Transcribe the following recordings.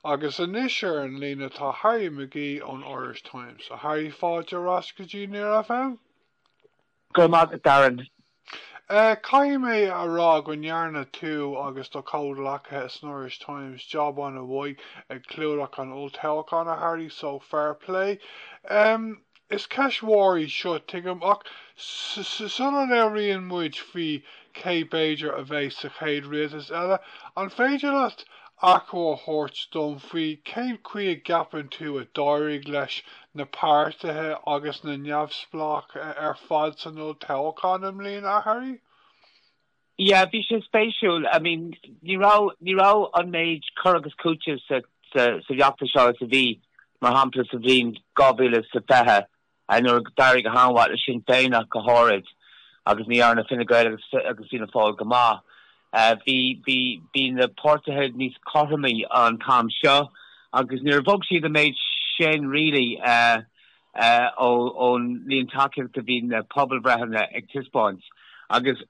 Agus anois ar an líne tá Harry McGee ón Irish Times. A Harry, fáilte ar ais go dtí Near FM. Go raibh maith agat, Darren. Caithfidh mé a rá go ndearna tú agus do chomhghleacaithe san Irish Times jab ana mhaith ag clúdach an olltoghcháin, a Harry, so fair play. Is ceist mhór í seo, tuigim, ach sula labhraíonn muid faoi cé b'fhéidir a bheidh sa chéad rialtas eile, an féidir leat achoimre a thabhairt dom faoi cén chaoi a gceapann tú a d'éirigh leis na páirtithe agus na neamhspleáigh ar fad san olltoghchán i mbliana, a Harry? Yeah, bhí sé spéisiúil. I mean, ní raibh, ní raibh an méid cur agus cúiteamh sa, sa, sa bhfeachtas seo as a bhí, mar shampla, sa bhliain 2020, a nuair a d'éirigh go han-mhaith le Sinn Féin ach go háirid, agus ní dhearna Fine Gael agus, agus Fianna Fáil go maith. Uh, bhí, bhí, bhí na páirtithe níos cothromaí an t-am seo, agus níor bhog siad an méid sin, really, uh, ón líon tacaíochta a bhí na pobalbhreitheanna ag taispeáint agus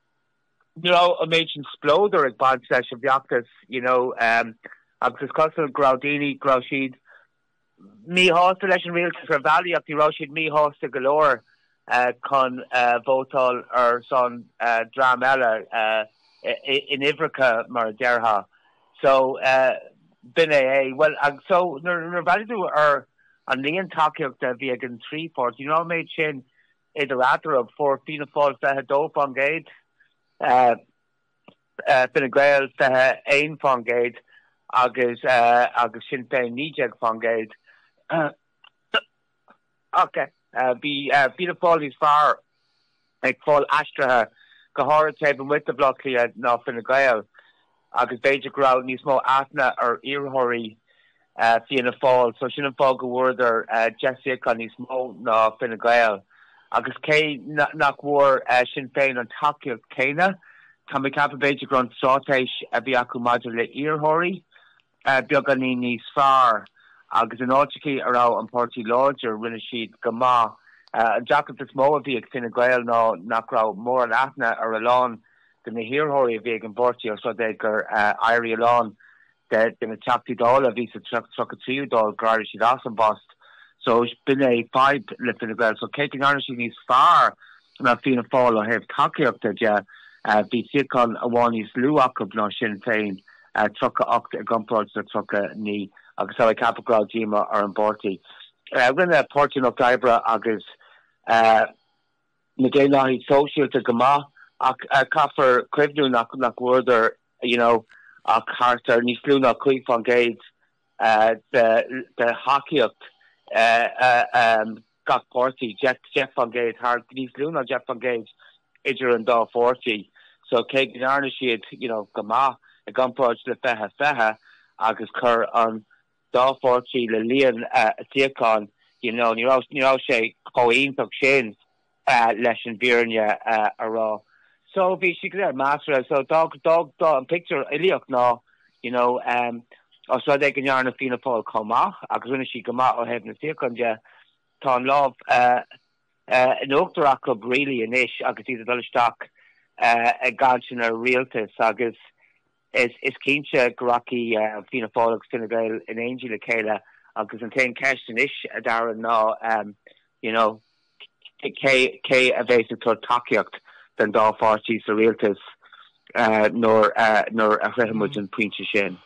ní raibh an méid sin spleodair ag baint leis an bhfeachtas you know agus is cosúil go raibh daoine go raibh siad míshásta leis an rialtas ar bhealaí ach ní raibh siad míshásta go leor chun vótáil ar son dream eile in uimhreacha mar a déarfá so b'in é é. Bhuel agus so nuair a bhreathnaigh tú ar an líon tacaíochta a bhí ag an trí pháirtí, ní raibh an méid sin idir eatarthu, fuair Fianna Fáil 22%, Fine Gael 21% agus Sinn Féin 19%, okay bhí Fianna Fáil níos fearr. ag fáil aistrithe, go háirid taobh amuigh de Bhleá Cliath, ná Fine Gael, agus b'fhéidir go raibh níos mó aithne ar iarrthóirí Fianna Fáil, so sin an fáth go bhfuaireadar deich suíochán níos mó ná Fine Gael. Agus cé nach bhfuair Sinn Féin an tacaíocht chéanna, tá mé ag ceapadh b'fhéidir go raibh an straitéis a bhí acu maidir le hiarrthóirí, beagáinín níos fearr, agus in áiteachaí a raibh an páirtí láidir, rinne siad go maith. An deacracht is mó a bhí ag Fine Gael ná nach raibh mórán aithne ar a lán de na hiarrthóirí a bhí ag an bpáirtí os rud é gur éirigh a lán de na Teachtaí Dála a bhí sa tríocha tríú Dáil, gur éirigh siad as an bpost. So, b'in é fadhb le Fine Gael. So, cé go ndearna siad níos fearr ná Fianna Fáil ó thaobh tacaíochta de, bhí suíochán amháin níos lú acu ná Sinn Féin. 38 i gcomparáid le 39, agus is dócha go raibh díomá ar an bpáirtí. Rinne Páirtí an Lucht Oibre agus na Daonlathaigh Shóisialta go maith, ach caithfear cuimhniú nach bhfuaireadar you know ach thart ar níos lú ná 5 fán gcéad de thacaíocht. gach páirtí, deich fán gcéad, thart ar níos lú ná deich fán gcéad idir an dá pháirtí. So cé go ndearna siad, you know, go maith i gcomparáid le fiche, fiche agus chuir an dá pháirtí le líon a suíochán, you know, ní raibh, ní raibh sé chomh iontach sin leis an bhfírinne a rá. So bhí siad go léir measartha. So d'fhág, d'fhág, d'fhág an pictiúr uilíoch ná You know, os rud é go ndearna Fianna Fáil chomh maith agus rinne siad go maith ó thaobh na suíochán de, tá an lámh in uachtar acu really anois agus iad ag dul isteach i gcainteanna rialtais agus is cinnte go rachaidh Fianna Fáil agus Fine Gael in éindí le chéile agus an aon cheist anois, a Darren, ná, you know, Cé a bheas ag tabhairt tacaíocht don dá pháirtí sa rialtas nuair a shroichfidh muid an pointe sin?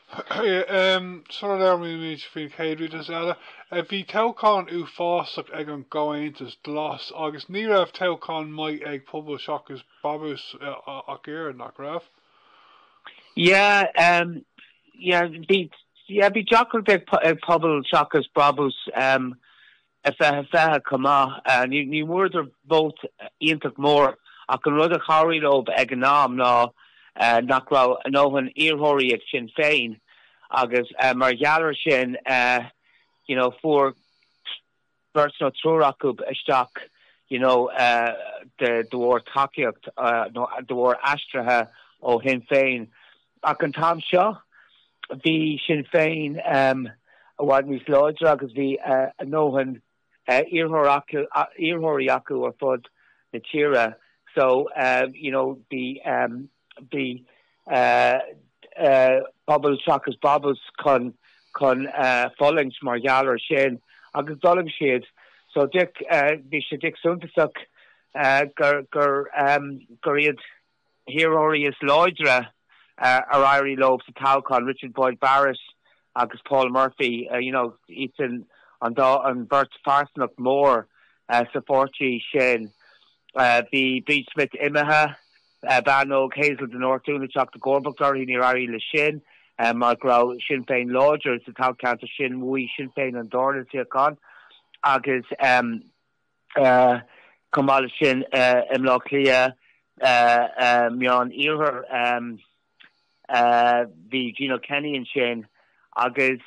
Sula labhraímid faoin chéad rialtas eile, bhí toghchán uafásach ag an gComhaontas Glas agus ní raibh toghchán maith ag Pobal Seachas Brabús ach oiread, nach raibh? Yeah, yeah. Bhí deacracht ag Pobal Seachas Brabús fiche fiche chomh maith. Ní bhfuaireadar vóit iontach mór, ach an rud a chabhraigh leo ag an am ná nach raibh a ndóthain iarrthóirí ag Sinn Féin, agus mar gheall air sin you know fuair beirt nó triúr acu isteach you know de bharr tacaíocht nó de bharr aistrithe ó Shinn Féin. Ach an t-am seo, bhí Sinn Féin i bhfad níos láidre agus bhí a ndóthain iarrthóirí acu ar fud na tíre so you know bhí Pobal Seachas Brabús chun chun fulaingt mar gheall air sin agus d'fhulaing siad. So bhí sé dic suntasach gur iad hiarrthóirí is láidre ar éirigh leo sa toghchán, Richard Boyd Barrett agus Paul Murphy, you know iad sin an dá, an bheirt phearsanacht mhór sa pháirtí sin. Bhí Bríd Smith imithe, bean óg Hazel de Nortún ag teacht i gcomharbacht uirthi, níor éirigh léi sin mar go raibh Sinn Féin láidir sa toghcheantar sin, bhuaigh Sinn Féin an dárna suíochán agus, Chomh maith leis sin, i mBleá Cliath, Meán Iarthair, bhí Gino Kenny ansin agus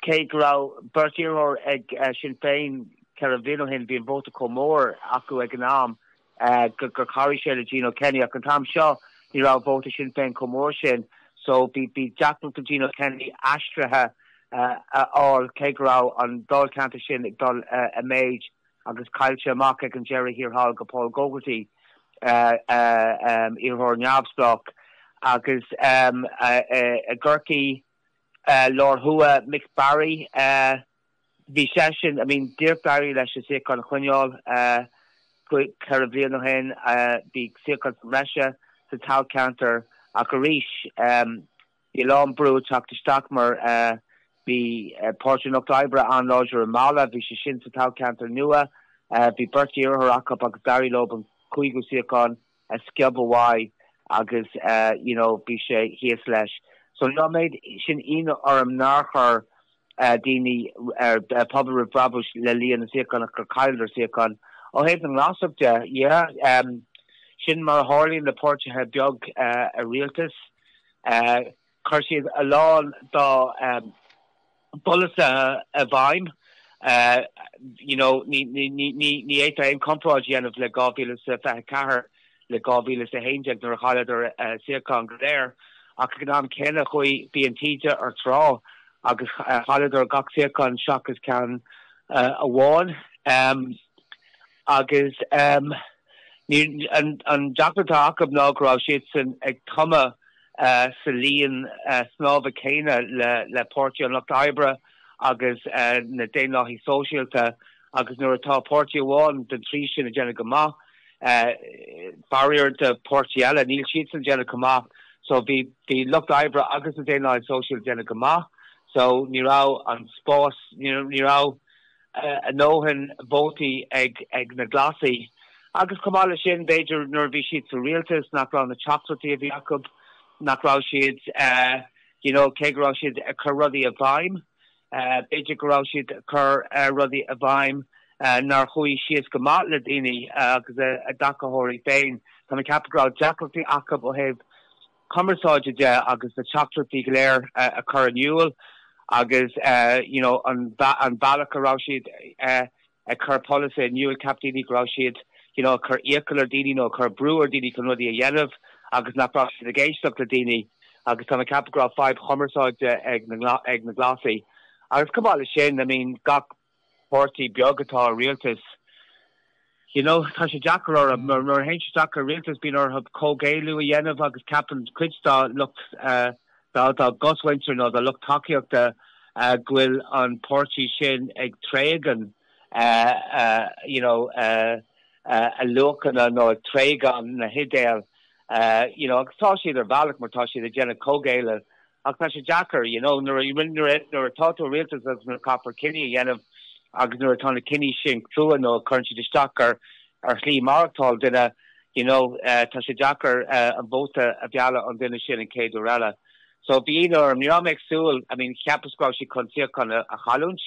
cé go raibh beirt iarrthóir ag Sinn Féin ceithre bliana ó shin, bhí an vóta chomh mór acu ag an am. gur chabhraigh sé le Gino Kenny, ach an t-am seo ní raibh vóta Shinn Féin chomh mór sin so bhí deacracht do Gino Kenny aistrithe a fháil cé go raibh an dáilcheantar sin ag dul i méid agus chaill sé amach ag an deireadh thiar thall do Paul Gogarty, iarrthóir neamhspleách, agus i gCorcaigh Láir Thuaidh, Mick Barry. Bhí sé sin, I mean, d'éirigh, barely, leis an suíochán a choinneáil ceithre bliana ó shin. Bhí suíochán sa mbreis sa toghcheantar ach arís bhí a lán brú ag teacht isteach mar bhí Páirtí an Lucht Oibre an-láidir i Mala, bhí sé sin sa toghcheantar nua, bhí beirt iarrthóir acu agus d'éirigh leo an cúigiú suíochán. a sciob uaidh agus you know bhí sé thíos leis so níl an méid sin ionadh orm nár chuir daoine ó Pobal Roimh Bhrabús le líon na suíochán, gur chailleadar suíochán ó thaobh na nGlasach de yeah sin mar a tharlaíonn le páirtí beag i rialtas. Chuir siad a lán dá bpolasaithe i bhfeidhm. You know, ní fhéadfá aon chomparáid a dhéanamh le 2024 le 2011 nuair a chailleadar a suíocháin go léir, ach ag an am céanna chuaigh, bhí an taoide ag trá agus chailleadar gach suíochán seachas ceann amháin. Agus an deacracht atá acu ná go raibh siadsan ag tumadh sa linn snámha céanna le Páirtí an Lucht Oibre agus na Daonlathaigh Sóisialta agus nuair atá páirtí amháin den trí sin ag déanamh go maith, faraor do pháirtí eile, níl siadsan ag déanamh chomh maith. So bhí Lucht Oibre agus na Daonlathaigh Sóisialta ag déanamh go maith so ní raibh an spás, ní raibh, a ndóthain vótaí ag na Glasaigh agus chomh maith leis sin, b'fhéidir nuair a bhí siad sa rialtas nach raibh na teachtaireachtaí a bhí acu, nach raibh siad you know cé go raibh siad ag cur rudaí i bhfeidhm, b'fhéidir go raibh siad ag cur rudaí i bhfeidhm nár chuaigh síos go maith le daoine agus a dtacaitheoirí féin. Tá mé ag ceapadh go raibh deacrachtaí acu ó thaobh cumarsáide de agus na teachtaireachtaí go léir a chur in iúl agus you know an bealach a raibh siad ag cur polasaithe in iúl. Cheap daoine go raibh siad you know ag cur iachall ar daoine nó ag cur brú ar dhaoine chun rudaí a dhéanamh agus nach raibh siad ag éisteacht le daoine agus tá mé ag ceapadh go raibh fadhb chumarsáide ag ag na Glasaigh agus chomh maith leis sin I mean gach páirtí beag atá i rialtas, you know, tá sé deacair orthu, mar nuair a théann siad isteach i rialtas bíonn orthu comhghéilleadh a dhéanamh agus ceapann cuid dá lucht, dá gcosmhuintir nó dá lucht tacaíochta go bhfuil an páirtí sin ag tréigean, you know, a luachanna nó ag tréigean na hidéil, you know, agus tá siad ar bhealach mar tá siad ag déanamh comhghéilleadh Ach tá sé deacair, you know, nuair a, nuair atá tú i rialtas agus nuair a chaithfear cinní a dhéanamh agus nuair atá na cinní sin crua nó cuireann siad isteach ar, ar shlí mhaireachtáil duine, you know, tá sé deacair an vóta a mhealladh ón duine sin an chéad uair eile. So bhí ionadh orm, ní raibh mé ag súil, I mean, cheapas go raibh siad chun suíochán a chailliúint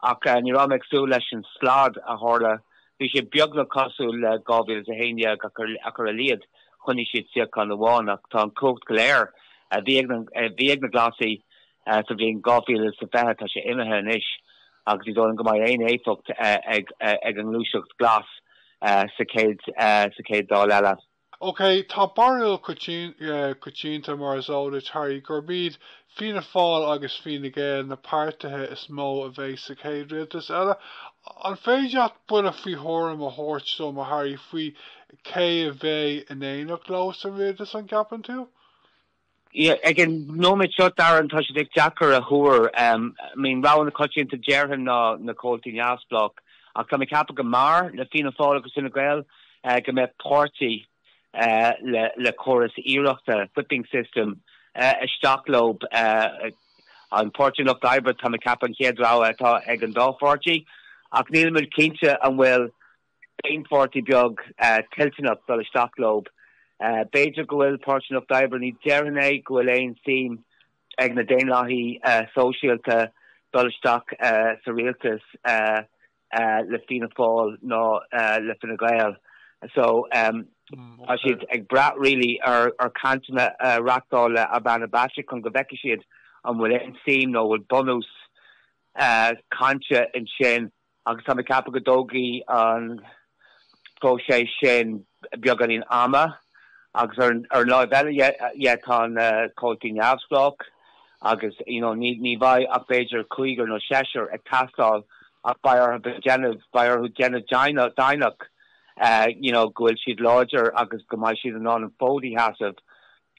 Ach ní raibh mé ag súil leis an slad a tharla. Bhí sé beagnach cosúil le 2011, ach ar a laghad choinnigh siad suíochán amháin. Ach tá an chumhacht go léir a bhí, a bhí ag na Glasaigh sa bhliain 2020, tá sé imithe anois agus ní dóigh liom go mbeidh aon éifeacht ag an ngluaiseacht Ghlas sa chéad, sa chéad Dáil eile. OK, tá barúil coitianta, mar is eol duit, Harry, gurb iad Fianna Fáil agus Fine Gael na páirtithe is mó a bheidh sa chéad rialtas eile. An féidir leat buille faoi thuairim a thabhairt dom, a Harry, faoi cé a bheidh in éineacht leo sa rialtas, an gceapann tú? Ag an nóiméad seo, déarfainn, tá sé deacair a thuar. I mean, an rogha coitianta, déarfainn, ná na comhaltaí neamhspleách. Ach tá mé ag ceapadh go mb'fhearr le Fianna Fáil agus Fine Gael go mbeadh páirtí le córas aoireachta, whipping system, isteach leo. Páirtí an Lucht Oibre, tá mé ag ceapadh, an chéad rogha atá ag an dá pháirtí. Ach nílimid cinnte an bhfuil aon pháirtí beag toilteanach dul isteach leo. B'fhéidir go bhfuil Páirtí an Lucht Oibre, ní déarfainn é, go bhfuil aon suim ag na Daonlathaí Sóisialta dul isteach sa rialtas le Fianna Fáil ná le Fine Gael. So, tá siad ag brath really ar chainteanna a reachtáil le Ivana Bacik chun go bhfeicfidh siad an bhfuil aon suim nó an bhfuil bunús cainte ansin. agus tá mé ag ceapadh go dtógfaidh an próiseas sin beagáinín ama, agus ar an láimh eile dhe, tá na comhaltaí neamhspleách, agus you know ní bheidh ach b'fhéidir cúigear nó seisear ag teastáil, ach beidh orthu déanamh, beidh orthu déanamh deimhneach, you know go bhfuil siad láidir agus go mbeidh siad in ann an fód a sheasamh,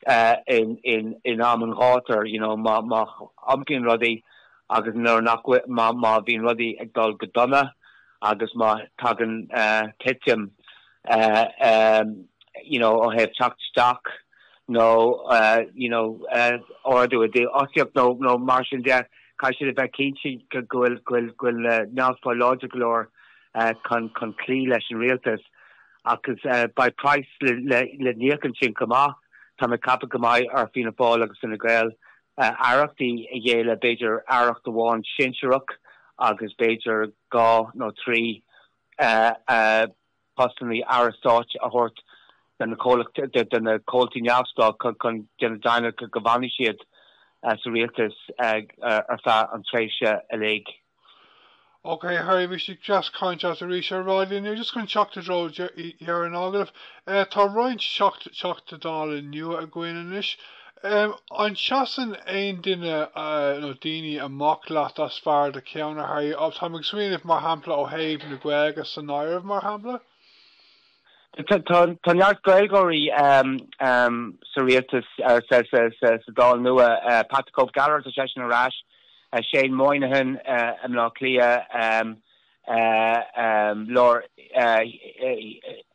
in am an ghátair, you know, má iompraíonn rudaí agus nuair nach bhfuil, má, má bhíonn rudaí ag dul go dona agus má tagann titim, you know, ó thaobh teacht isteach nó, you know, ardú i dífhostaíocht nó, nó mar sin de, caithfidh siad a bheith cinnte go bhfuil, go bhfuil, go bhfuil na neamhspleáigh láidir go leor chun, chun cloí leis an rialtas. Agus beidh praghas le n-íoc ansin chomh maith. Táim ag ceapadh go mbeidh ar Fhianna Fáil agus Fine Gael aireachtaí a ghéilleadh, b'fhéidir aireacht amháin sinsearach agus b'fhéidir dhá nó trí postannaí aire stáit a thabhairt do na comhaltaí neamhspleách chun déanamh deimhneach go bhfanfaidh siad sa rialtas ar feadh an tréimhse uilig. OK, a Harry, bhí sé deas caint leat arís ar raidió inniu. Just chun teacht i dtreo dheireadh an agallaimh, tá roinnt Teachtaí Dála nua againn anois. An seasann aon duine nó daoine amach leat as barr do cheann, a Harry? Táim ag smaoineamh, mar shampla, ó thaobh na Gaeilge san áireamh, mar shampla. Tá neart Gaeilgeoirí sa rialtas, sa Dáil nua, Pat the Cope Gallagher, tá seisean ar ais, Shane Moynihan i mBleá Cliath,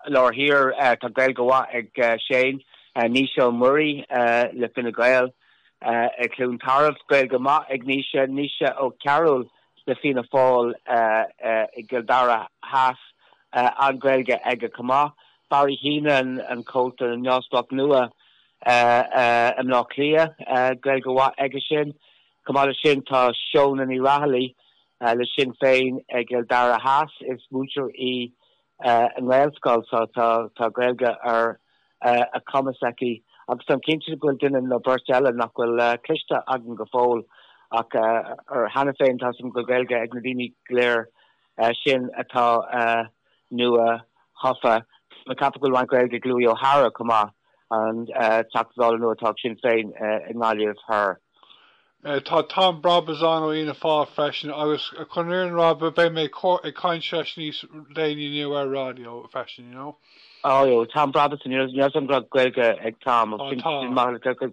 lár thiar tá Gaeilge mhaith ag Shane, Naoise Ó Muirí le Fine Gael, i gCluain Tarbh, Gaeilge maith ag Naoise, Naoise Ó Cearúil le Fianna Fáil i gCill Dara Theas an Ghaeilge aige chomh maith, Barry Heneghan, an Comhalta Neamhspleách nua i mBleá Cliath, Gaeilge mhaith aigesean. Chomh maith leis sin tá Shónagh Ní Raghallaigh le Sinn Féin i gCill Dara Theas, is múinteoir í i nGaelscoil so tá tá Gaeilge ar a cumas aici agus táim cinnte go bhfuil duine nó beirt eile nach bhfuil cloiste agam go fóill ach cheana féin tá... go Gaeilge ag na daoine go léir sin atá nua thofa. Tá mé ag ceapadh go bhfuil roinnt Gaeilge ag Louis O'Hara chomh maith, an teachta Dála nua atá ag Sinn Féin i nGaillimh thoir. Tá Tom Brabazon ó Fhianna Fáil freisin agus chun an fhírinne a rá beidh mé ag caint leis níos déanaí inniu ar an raidió freisin, you know. Óóó, Tom Brabazon, you know, tá Gaeilge ag Tom agus sin maith le cur.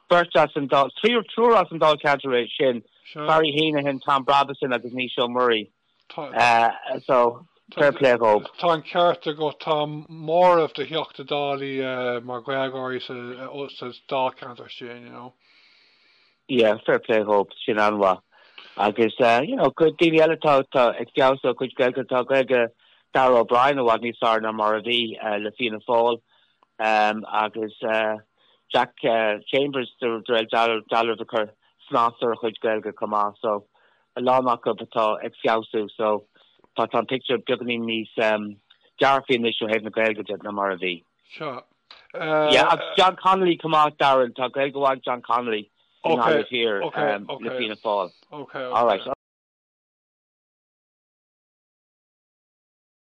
Beirt as an Dáil, triúr as an Dáilcheantar sin, Barry Heneghan, Tom Brabazon agus Naoise Ó Muirí. so fair play dhób. Tá an ceart agat, tá móramh de Theachta Dálaí mar Ghaeilgeoirí sa Dáilcheantar sin, you know. Yeah, fair play dhób, sin an-mhaith. Agus, you know, cuid daoine eile atá ag feabhsú a gcuid Gaeilge, tá Gaeilge Darragh O'Brien i bhfad níos fearr ná mar a bhí le Fianna Fáil agus Jack Chambers de réir dealraimh ag cur snas ar a chuid Gaeilge chomh maith, so a lán acu atá ag feabhsú so tá tá an pictiúr beagáinín níos dearfaí anois ó thaobh na Gaeilge de ná mar a bhí. Sea. Yeah agus John Connolly chomh maith Darren tá Gaeilge mhaith ag John Connolly i nGaillimh Thiar le Fianna Fáil. Alright.